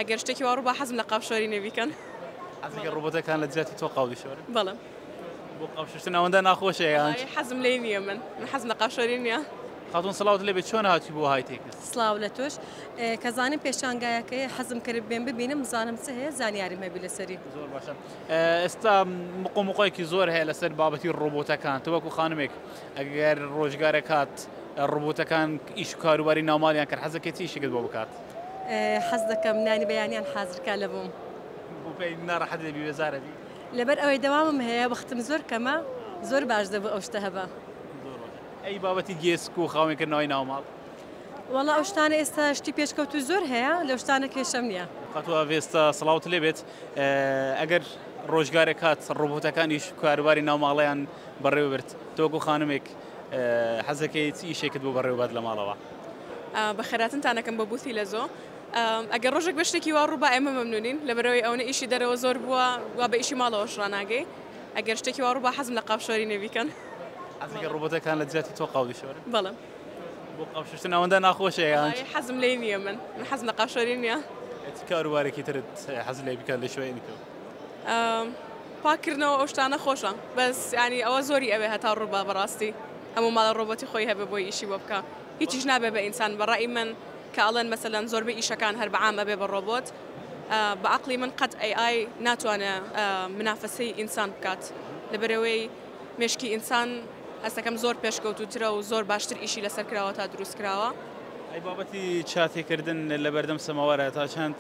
ئەگەر شتێکی وا ڕووبا حەزم لە قاپ شۆرینە بیکەن. حەزەکە ڕۆبۆتەکان لە جیاتی تۆ قاو بشۆرن؟ بەڵێ. بۆ قاو شوشتن ئەوەندە ناخۆشە یان؟ وەڵایی حەزم لێی نییە من. من حەزم لە قاپ شۆرین نییە. خاتوون سڵاوت لێبێ چۆن هاتووی بۆ های تێکست؟ سڵاو لە تۆش. کە زانیم پێشانگایەکەیە حەزم کرد بێم ببینم بزانم چ هەیە زانیاریم هەبی لەسەری. زۆر باشە. ئێستا مقۆ مقۆیەکی زۆر هەیە لەسەر بابەتی ڕۆبۆتەکان. تۆ وەکو خانمێک ئەگەر ڕۆژگارێک هات ڕۆبۆتەکان ئیش و کاروباری ناوماڵیان کرد حەزەکەی چ ئیشێکت بۆ بکات؟ حەز دەکەم نانی بەیانیان حازر کا لە بووم بۆپی ناڕەحەت دەبی بێزارە بی لەبەر ئەوەی دەوامم هەیە وەختم زۆر کەمە زۆر باش دەبوو ئەو شتە هەبا ئەی بابەتی گێسک و خاوێن کردنەوەی ناوماڵ وەڵا ئەو شتانە ئێستا شتی پێشکەوت و زۆر هەیە لەو شتانە کێشەم نییە خاتوە ڤێستا سڵاوت لێ بێت ئەگەر ڕۆژگارێک هات ڕۆبۆتەکانیش کاروباری ناوماڵیان بەڕێوەبرد تۆکو خانمێک حەزدەکەی چ ئیشێکت بۆ بەڕێوەبات لە ماڵەوە؟ بە خێراتنتان ئەکەم بۆ بووثی لە زۆ. ئەگەر ڕۆژێک بێ شتێکی وا ڕووبا ئێمە مەمنونین لەبەرەوەی ئەوەنە ئیشی دەرەوە زۆر بووە وا بە ئیشی ماڵەوەش ڕناگەی ئەگەر شتێکی وا ڕووبا حەزم لە قاپ شۆرینە بیکەن ئەزگە ڕۆبۆتەکان لە جیاتی تۆ قاوی شۆرن بەڵم بۆ قاپشتن ئەوەندە ناخۆشەیان حەزم لی نییە من من حەزم لە قاشۆری نییە کاروبارێکی ترت حەز لێ بکات لە شوێنی تۆ پاک کردنەوە ئەو شتانە خۆشە بەس ینی ئەوە زۆری ئەوێ هەتا ڕووبا بەڕاستی هەموو ماڵە ڕۆبەتی خۆی هەبێ بۆی ئیشی بۆ بکە هیچیش نابێ بە ئینسان بەڕای من کە ئەڵێن مەسەلەن زۆربە ئیشەکان هەر بە عامەبێ بە ڕۆبۆت بە عقلی من قەت ئەی ئای ناتوانێ منافەسەی ئینسان بکات لەبەرەوەی مێشکی ئینسان هەستەکەم زۆر پێشکەوتووترە و زۆر باشتر ئیشی لەسەر کراوە تا دروست کراوە. ئەی بابەتی چاتێکردن لە بەردەم سەماوارە تا چەند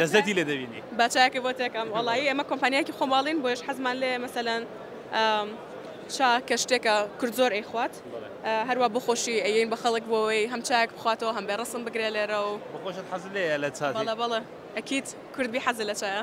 لەزەتی لێ دەبینی؟ با چایەکە بۆ تێکەم وەڵایی ئێمە کۆمپانیایەکی خۆماڵین بۆیش حەزمان لێ مەسەلەن چا کە شتێکە کورد زۆر ئەیخوات هەروە بۆ خۆشی ئەین بە خەڵک بۆەوەی هەم چاک بخواتەوە هەم بێ ڕسم بگرێ لێرە و بەخۆشت حەز لێ لە چا بەڵە بەڵە ئەکییت کوردبی حەزە لە چایە.